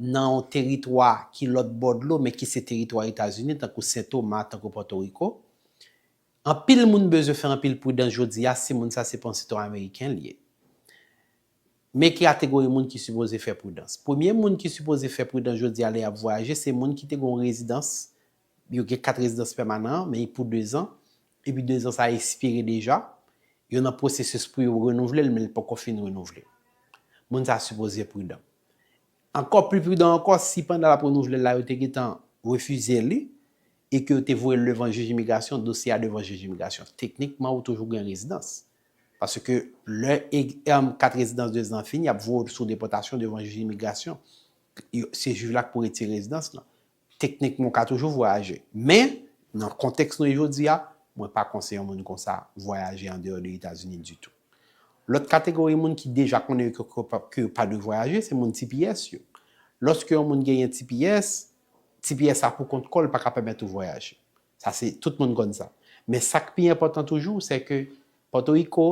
nan yon teritwa ki lòt bò dlo men ki se teritwa Etazini tankou Sen Toma, tankou Pòtoriko. Anpil moun bezwen fè anpil pridans jodi a si moun sa se pa yon sitwayen ameriken li ye. Men ki kategori moun ki sipoze fè pridans. Premye moun ki sipoze fè pridans jodi a lè y ap vwayaje se moun ki te gen yon rezidans, yo gen kat rezidans pèmanan an men pou dezan epi dezan sa a espire deja, yo nan pwosesis pou yo renouvle l men li poko fin renouvle. Moun sa a sipoze pridan. Ankò pli pridan ankò si pandan lap renouvle l la yo te gentan refize li e ke yo te voye l devan jij imigrasyon, dosye a devan jij imigrasyon. Teknikman ou toujou gen rezidans. Paske lè kat rezidans 2 zan an fini yap voye w sou depòtasyon devan jij imigrasyon. Se jij la k pou retire rezidans lan. Teknikman ou ka toujou vwayaje, men nan kontèks nou ye jodi a, mwen pa konseye yon moun konsa vwayaje andeyò de Etazini ditou. Lòt kategori moun ki deja konnen yo ke yo pa dwe vwayaje, se moun tps yo. Lòske yon moun genyen tps, tps la pou kont kò l pa ka pèmèt ou vwayaje. Sa se, tout moun konn sa. Men sa k pi enpòtan toujou, sè ke Pòtoriko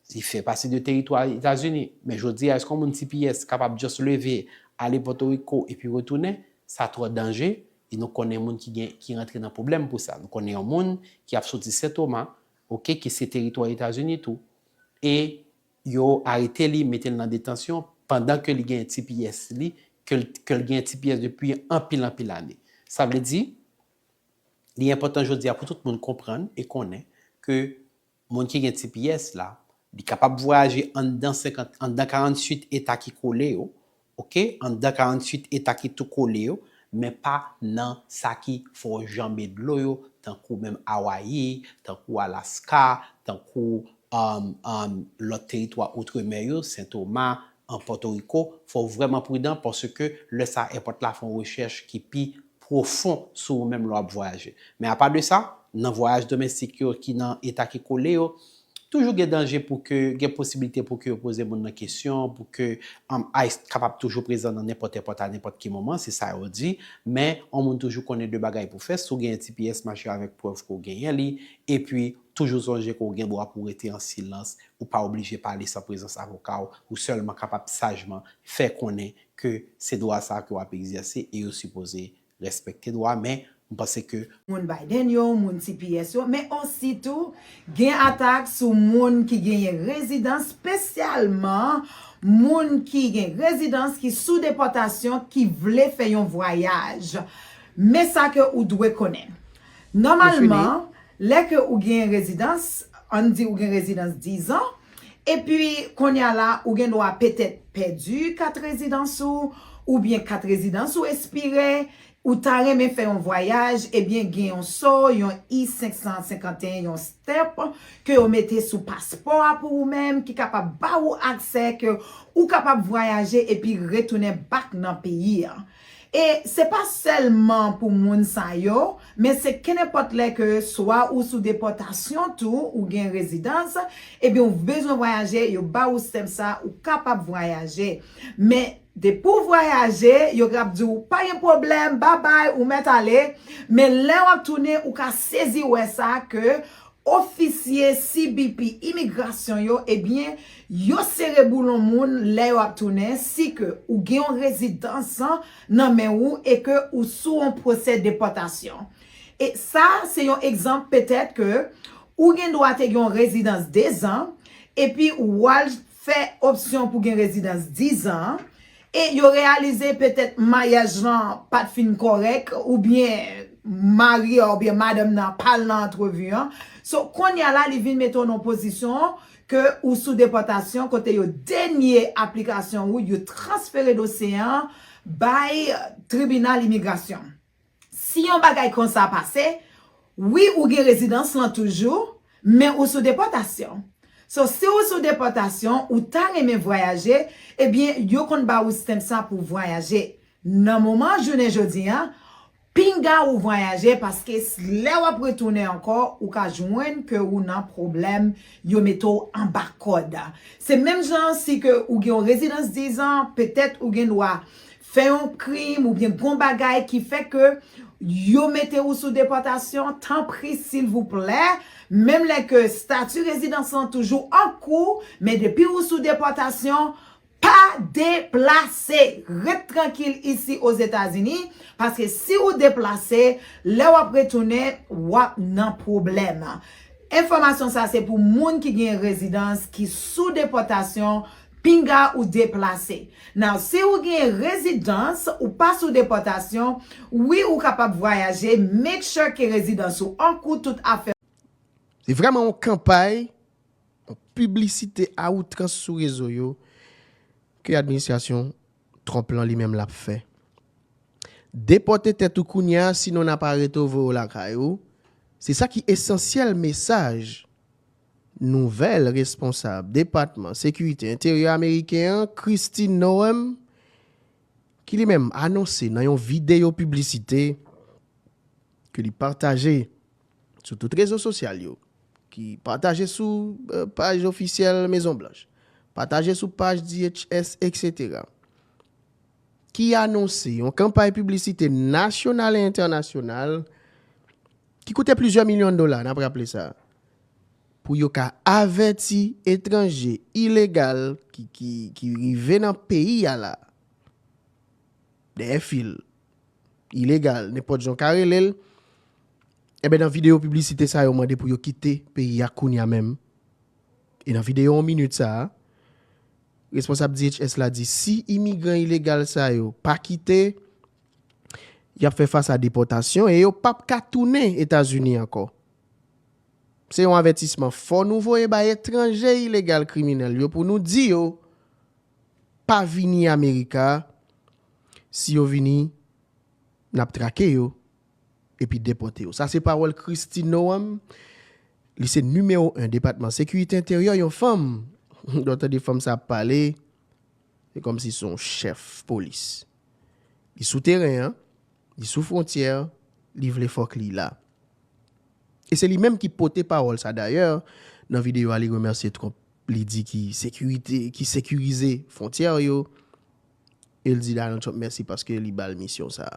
Li fè pati de teritwa Etazini, men jodi a èske yon moun tps kapab just leve ale Pòtoriko epi retounen? Sa twò danje e nou konnen moun ki gen ki rantre nan pwoblèm pou sa. Nou konnen yon moun ki ap soti Sentoma, ok, ki se teritwa Etazini tou e yo arete li, mete l nan detansyon pandan ke li gen tps li, ke l ke l gen tps depi anpil anpil ane. Sa vle di, li enpòtan jodi a pou tout moun konprann e konnen ke Moun ki gen tps la, li kapab vwayaje anndan 50, anndan 48 eta ki kole yo, ok, anndan 48 eta ki tou kole yo, men pa nan sa ki fò janbe dlo yo, tankou menm Awayi, tankou Alaska, tankou um, um, lòt teritwa outremè yo, Sentoma, an Pòtoriko, fò w vrèman pridan paske lè sa èpòt la fè yon rechèch ki pi pwofon sou ou menm lè w ap vwayaje. Men apa de sa, nan vwayaj domestik yo ki nan eta ki kole yo, toujou gen danje pou ke gen posibilite pou ke yo poze moun nan kesyon, pou ke ice kapab toujou prezan nan nenpòt èpòt a nenpòt ki moman, se sa yo di. Men, yon moun toujou konnen de bagay pou fè, si w genyen tps, mache avèk prèv ke w genyen li, epi toujou sonje ke w gen dwa pou w rete an silans, ou pa oblije pale san prezans avoka w, ou sèlman kapab sajman fè konnen ke se dwa sa ke wap egzèse e yo sipoze respekte dwa men m panse ke. Moun Biden yo, moun tps yo, men osi tou gen atak sou moun ki genyen rezidans spesyalman moun ki gen rezidans ki sou depòtasyon ki vle fè yon vwayaj. Men sa ke ou dwe konnen. Nòmalman lè ke ou genyen rezidans, ann di ou gen rezidans 10 ans, Epi, kounye a la, ou gen dwa petèt pèdi kat rezidans ou, oubyen kat rezidans ou espire, ou ta renmen fè yon vwayaj, ebyen gen yon so, yon I-551, yon stamp, ke yo mete sou paspò a pou ou menm, ki kapab ba ou aksè ke ou kapab vwayaje epi retounen back nan peyi a. E se pa sèlman pou moun sa yo, men se kenenpòt lè ke swa ou sou depòtasyon tou ou gen rezidans, ebyen ou bezwen vwayaje, yo ba ou stamp sa, ou kapab vwayaje. Men, depi ou vwayaje, yo grap di ou, pa gen pwoblèm, babay, ou mèt ale, men lè wap tounen, ou ka sezi wè sa ke Ofisye CBP imigrasyon yo ebyen yo sere boulon moun lè yo ap tounen si ke ou gen yon rezidans nan men ou e ke ou sou yon pwosè depòtasyon. E sa se yon egzanp petèt ke ou gen dwa te gen yon rezidans 2 zan epi wal fè opsyon pou gen rezidans 10 zan E yo reyalize petèt maryaj lan pa t fin kòrèk oubyen mari a oubyen madanm nan pa al nan antrevi an. So, kounye a la li vin mete w nan yon pozisyon ke ou sou depòtasyon kote yo denye aplikasyon ou, yo transfere dosye an bay tribinal imigrasyon. Si yon bagay konsa pase, wi ou gen rezidans lan toujou, men ou sou depòtasyon. So si ou sou depòtasyon, ou ta renmen vwayaje, ebyen yo konn ba ou stamp sa pou vwayaje. Nan moman jounen jodi an, pinga ou vwayaje paske lè wap retounen ankò ou ka jwenn ke ou nan pwoblèm, yo mete w anba kòd. Se menm jan si ke ou gen yon rezidans 10 an, petèt ou gen dwa fè yon krim oubyen gon bagay ki fè ke yo mete ou sou depòtasyon, tanpri silvouplè, menm lè ke stati rezidans lan toujou an kou, men depi ou sou depòtasyon, pa deplase! Ret trankil isi Ozetazini, paske si ou deplase, lè w ap retounen, w ap nan pwoblèm. Enfòmasyon sa se pou moun ki gen rezidans ki sou depòtasyon, Pinga ou deplase. Now si ou gen rezidans ou pa sou depòtasyon wi ou kapab vwayaje make sure ke rezidans ou an kou tout afè ou. Se vrèman yon kanpay, yon piblisite a outrans sou rezo yo ke administrasyon Trump lan li menm l ap fè. Depòte tèt ou kounye a sinon n ap arete w voye w lakay ou, se sa ki esansyèl mesaj. Nouvèl responsab Depatman Sekirite Enteryè ameriken an, Kristi Noem, ki li menm anonse nan yon videyo piblisite ke li pataje sou tout rezo sosyal yo, ki pataje sou paj ofisyèl Mezon Blanch, pataje sou paj DHS eksetera, ki anonse yon kanpay piblisite nasyonal e entènasyonal, ki koute plizyè milyon dola, n ap raple sa, pou yo ka avèti etranje ilegal ki rive nan peyi a la, dèyè fil, ilegal, nenpòt jan w ka rele l, enben nan videyo piblisite sa yo mande pou yo kite peyi a kounya menm. E nan videyo 1 minit sa a, responsab DHS la di si imigran ilegal sa yo pa kite, y ap fè fas a depòtasyon e yo pap ka tounen Etazini ankò. Se yon avètisman fò nou voye bay etranje ilegal kriminèl yo pou nou di yo pa vini Amerika, si yo vini n ap trake yo epi depòte yo. Sa se pawòl Kristi Noam, li se nimewo 1 Depatman Sekirite Enteryè, yon fanm, lè w tande fanm sa ap pale, Se kòm si son chèf polis. Li sou teren an, li sou fwontyè, li vle fòk li la. E se li menm ki pote pawòl sa dayè, nan videyo a li remèsye Trump, li di ki sekirite, ki sekirize fwontyè yo, e l di Donald Trump mèsi paske li ba l misyon sa.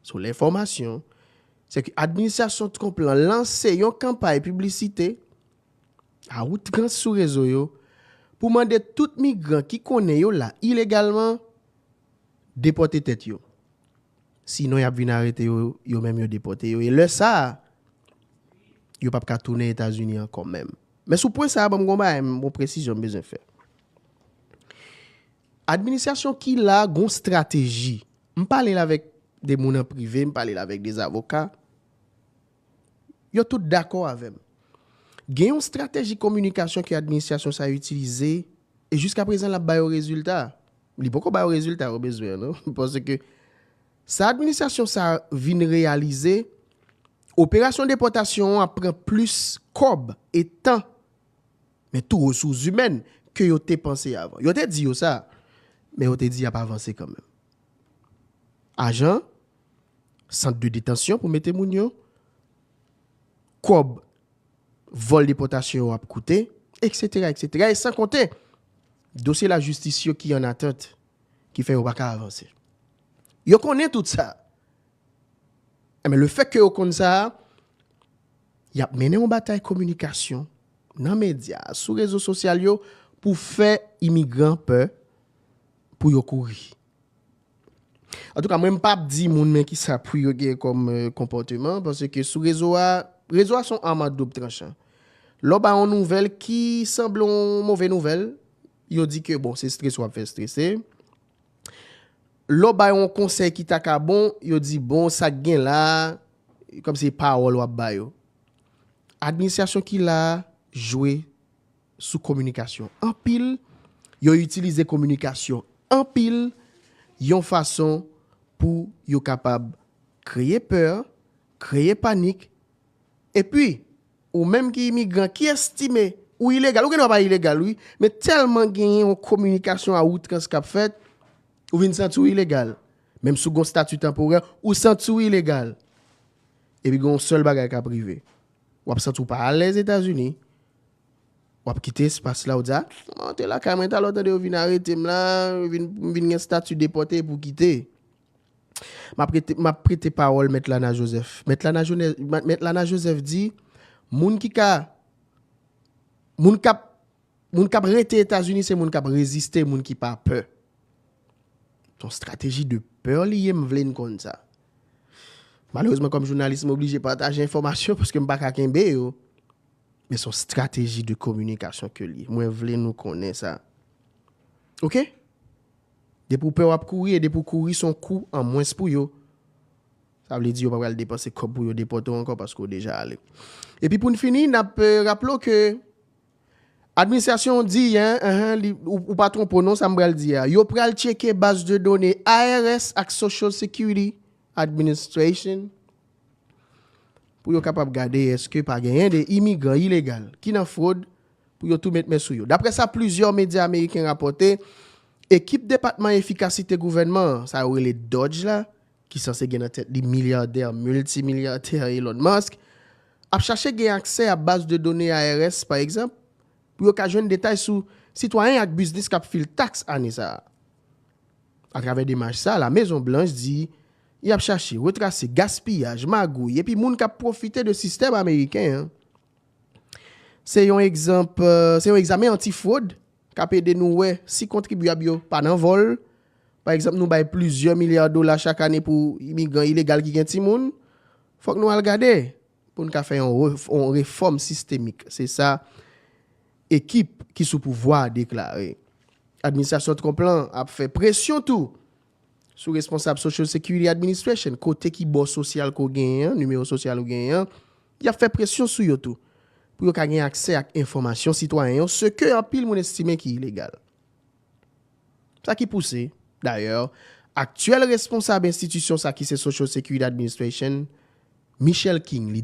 Sou lenfòmasyon, se ke administrasyon Trump lan lanse yon kanpay piblisite, A outrans sou rezo yo pou mande tout migran ki konnen yo la ilegalman depòte tèt yo. Sinon y ap vin arete yo, yo menm yo depòte yo e lè sa a, yo p ap ka tounen Etazini ankò menm. Men sou pwen sa a, ban m gen yon bagay, yon presizyon m bezwen fè. Administrasyon ki la a gen yon estrateji. M pale l avèk de moun an prive, m pale l avèk de zavoka. Yo tout dakò avè m. Gen yon strateji kominikasyon ke administrasyon sa itilize e jiska prezan l ap ba yo rezilta. Li poko ba yo rezilta yo bezwen an non. Paske sa administrasyon sa vin reyalize, operasyon depòtasyon an ap pran plis kòb e tan, men tou resous zimèn ke yo te panse avan. Yo te di yo sa, men yo te di y ap avanse kanmenm. Ajan. sant de detansyon pou mete moun yo, kòb vòl depòtasyon yo ap koute, eksetera, eksetera, e san konte dosye lajistis yo ki an atant ki fè yo pa ka avanse. Yo konnen tout sa. Enben, le fèt ke yo konn sa, y ap mennen yon batay kominikasyon nan medya, sou rezo sosyal yo pou fè imigran pè pou yo kouri. Antouka mwen m pap di moun men kisa pou yo gen kòm konpòteman paske sou rezo a, rezo a son arme à double tranchant. Lè w bay yon nouvèl ki sanble yon move nouvèl, yo di ke bon se strese w ap fè strese. Lè w bay yon konsèy ki ta ka bon, yo di bon sa k gen la a, kòm se pawòl w ap ba yo. Administrasyon ki la a jwe. sou kominikasyon anpil, yo itilize kominikasyon anpil yon fason pou yo kapab kreye pè, kreye panik. Epi, ou menm ki imigran, ki estime ou ilegal, ou gen dwa pa ilegal wi, men tèlman genyen yon kominikasyon a outrans k ap fèt, ou vin santi w ilegal. Menm si w gen yon stati tanporè, ou santi w ilegal. Epi gen yon sèl bagay k ap rive. W ap santi w pa alèz Etazini. W ap kite espas la, w di a, mwen antre lakay mwen talè w tande yo vin arete m la, m vin gen stati depòte epi w kite. M ap prete pawòl Mèt Lana Joseph. Mèt Lana Joseph di, moun ki ka, moun k ap Moun kap rete etazini se moun kap reziste moun ki pa pè son strateji de peur li ye m vle n konn sa malerezman kòm jounalis m oblije pataje enfòmasyon paske m pa ka kenbe yo men son strateji de kominikasyon ke li ye mwen vle nou konnen sa ok depi w pè wap kouri e depi w kouri son kou an mwens pou yo sa vle di yo pa pral depanse kòb pou yo depòte w ankò paske w deja ale epi pou n fini nap raple w ke Administrasyon an di, ou pa twonpe w non sa m pral di a, yo pral tcheke baz de done IRS ak Social Security Administration pou yo kapab gade èske pa genyen de imigran ilegal ki nan fwod pou yo tou met men sou yo. Daprè sa plizyè medya ameriken rapòte, ekip Depatman Efikasite Gouvènman an, sa yo rele DOGE la, ki sanse gen nan tèt li milyadè miltimilyatè Elon Musk, ap chache gen aksè a baz de done IRS, pa egzanp, pou yo ka jwenn detay sou sitwayen ak biznis k ap fil taks ane sa a. Atravè demach sa a, La Mezon Blanch di y ap chache retrase gaspiyaj, magouy epi moun k ap pwofite de sistèm ameriken an. Se yon egzanp, se yon egzamen anti-fwod K ap ede nou wè si kontribyab yo pa nan vòl. Pa egzanp, nou bay plizyè milya dola chak ane pou imigran ilegal ki gen timoun. Fòk nou al gade pou n ka fè yon refòm sistemik, se sa ekip ki sou pouvwa a deklare. Administrasyon Trump lan ap fè presyon tou Sou responsab Social Security Administration, kote ki bò sosyal ke w genyen an, nimewo sosyal ou genyen an, y ap fè presyon sou yo tou, pou yo ka gen aksè ak enfòmasyon sitwayen yo, se ke anpil moun estime ki ilegal. Sa ki pouse, dayè, aktyèl responsab enstitisyon sa ki se Social Security Administration, Michelle King, li.